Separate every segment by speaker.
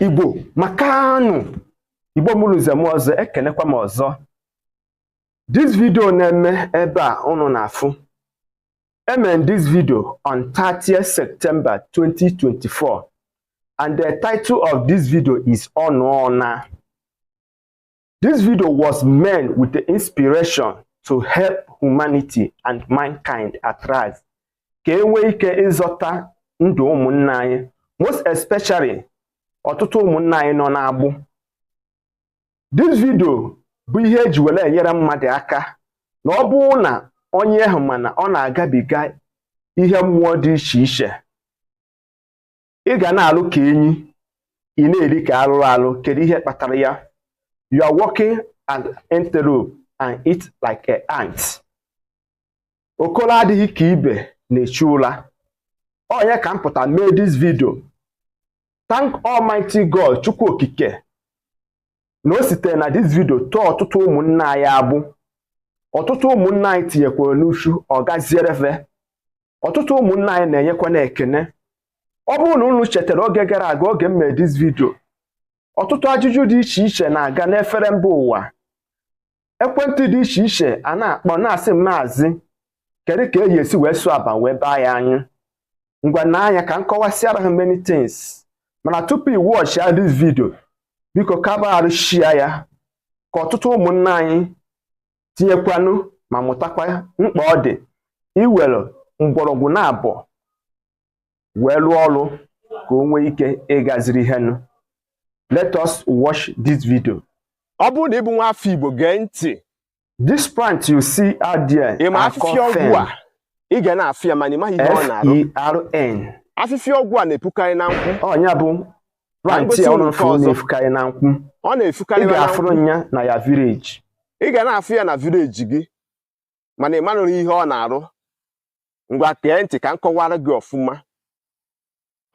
Speaker 1: igbo makanụ igbo mụrụ nze mụọ ọzọ ekenekwa m ọzọ this video na-eme ebe a unu na-afụ I made this video on 30th September 2024 and the title of this video is ọnụ ọna This video was made with the inspiration to help humanity and mankind at large ka e nwee ike ịzọta ndụ ụmụnna anyị most especially ọtụtụ ụmụnna anyị nọ n'agbụ this video bụ ihe e ji were enyere mmadụ aka na ọ bụrụ na onye ahụ ma na ọ na-agabiga ihe mmụọ dị iche iche ị ga na-alụ ka enyi ị na-eri ka arụrụ alụ kedu ihe kpatara ya you are working an antelope and eat like an ant okoro adịghị ka ibe na-echu ụra ọnya ka m pụta mee this video thank almighty god chukwu okike na o sitere na this video tọọ ọtụtụ ụmụnna anyị agbụ ọtụtụ ụmụnna anyị tinyekwara n'uchu ọ gaziere fe ọtụtụ ụmụnna anyị na-enyekwa na ekene ọ bụrụ na unu chetara oge gara aga oge m mere this video ọtụtụ ajụjụ dị iche iche na-aga n'efere mba ụwa ekwentị dị iche iche a na-akpọ na-asị maazị kedu ka e ji esi wee sụọ aba wee baa ya anyị ngwa na anya ka m kọwasịara ha many things mana tupu i watch ya this video biko kabaarụ share ya ka ọtụtụ ụmụnna anyị tinyekwanụ ma mụtakwa mkpa ọ dị iwere mgbọrọgwụ na abụọ wee lụọ ọrụ ka o nwee ike ịgaziri ihe nụ let us watch this video ọ bụrụ na ị
Speaker 2: bụ nwa afọ igbo gee ntị this plant
Speaker 1: you see out there ị ma afịfịa ọgwụ
Speaker 2: a ị ga na-afụ ya mana ị maghị ihe ọ na-arụ
Speaker 1: F-E-R-N afịfịa ọgwụ
Speaker 2: a na-epukarị na nkwụ ọnya
Speaker 1: bụ plant ya ọ na-efukarị na nkwụ ọ na-efukarị na nkwụ ị
Speaker 2: ga-afụrụ ya na ya
Speaker 1: village ị ga na-afụ ya
Speaker 2: na village gị mana ị manụrụ ihe ọ na-arụ ngwa gee ntị ka m kọwara gị ọfụma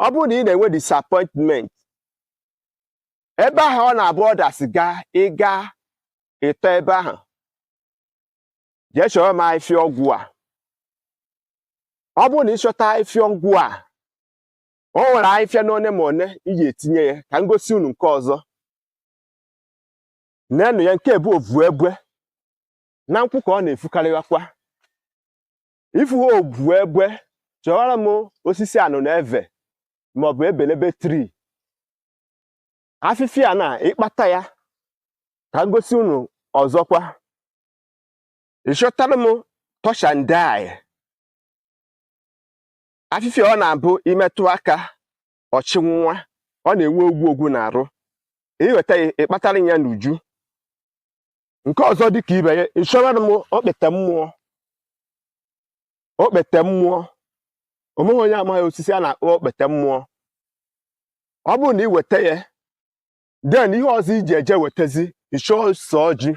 Speaker 2: ọ bụrụ na ị na-enwe disappointment ebe ahụ ọ na-abụ ọdasị gaa ị gaa ị tọ ebe ahụ jee chọrọ m ahịfịa ọgwụ a ọ bụrụ na ị chọta ahịfịa ọgwụ a o nwere ahịfịa n'one ma one i ji etinye ya ka m gosi unu nke ọzọ neenụ ya nke a bụ ovu egbe na nkwụ ka ọ na-efukarịghakwa ifu ha obu egbe chọwara m osisi anụnụebe maọbụ ebelebe tri afịfịa na ịkpata ya ka m gosi unu ọzọkwa ịchọtara m touch and die afịfịa ọ na-abụ imetụ aka ọchị nwa ọ na-enwe ogwu ogwu n'arụ iweta ya ịkpatara ya n'uju nke ọzọ dị ka ibe ya ịchọwara m okpete mmụọ okpete mmụọ onweghị onye amaghị osisi a na-akpọ okpete mmụọ ọ bụrụ na ị weta ya then ihe ọzọ iji eje wetazi ịchọ ose ọjị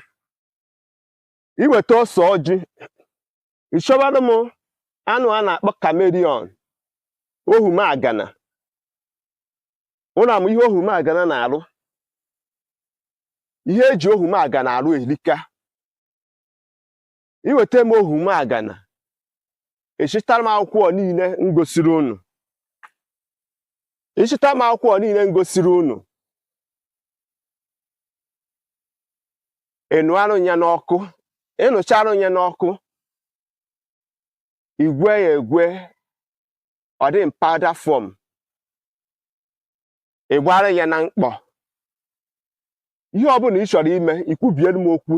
Speaker 2: iweta ose ọjị ịchọwara m anụ a na-akpọ chameleon ohumagana unu ama ihe ohumagana na-arụ ihe eji ohumagana arụ elika iweta m ohumagana ịchịtara m akwụkwọ niile m gosiri unu ịchịta m akwụkwọ niile m gosiri unu ịnụarụ ya n'ọkụ ịnụcharụ ya n'ọkụ igwe ya egwe ọ dị in powder form ị gbara ya na mkpọ ihe ọbụla ị chọrọ ime ikwubiere m okwu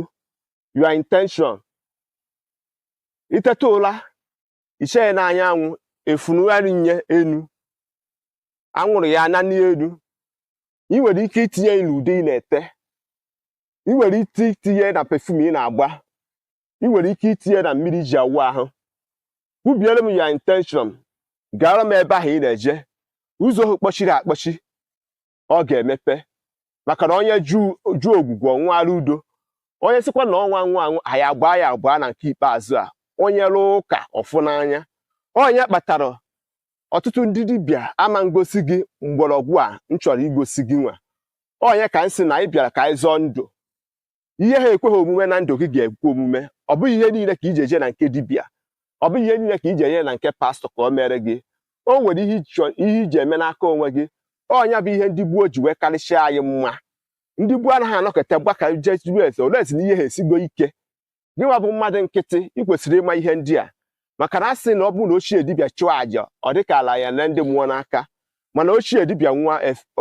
Speaker 2: your intention iteta ụra ichee ya n'anyanwụ efunugharị nye enu anwụrụ ya na n'elu ị nwere ike itinye ya n'ude ị na-ete ị nwere ike itinye na pefum ị na-agba ị nwere ike itinye na mmiri iji awụ ahụ kwubiere m your intention gara m ebe ahụ ị na-eje ụzọ ahụ kpọchiri akpọchi ọ ga-emepe maka na onye jụọ ogwugwu ọ ṅụara udo onye sịkwa na ọnwa nwa aṅụ anyị agbaa ya agbaa na nke ikpeazụ a onye rụọ ụka ọfụ n'anya ọnya kpatara ọtụtụ ndị dibịa ama ngosi gị mgbọrọgwụ a m chọrọ igosi gị nwa ọnya ka m sị na anyị bịara ka anyị zọọ ndụ ihe ha ekweghị omume na ndụ gị ga-ekwe omume ọ bụghị ihe niile ka iji eje na nke dibịa ọ bụghị ihe niile ka iji eje na nke pastọ ka o mere gị o nwere ihe iji eme n'aka onwe gị ọnya bụ ihe ndị gboo ji wee karịsịa anyị mma ndị gboo anaghị anọkata gbaka jee jụrụ ese olee esi na ihe ha esigo ike gịnwa bụ mmadụ nkịtị ị kwesịrị ịma ihe ndị a maka na a sị na ọ bụrụ na ochie dibịa chụọ àjà ọ dịka ala ya na ndị mmụọ n'aka mana ochie dibịa nwụọ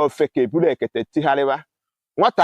Speaker 2: ofeke eburu ekete tigharịwa nwata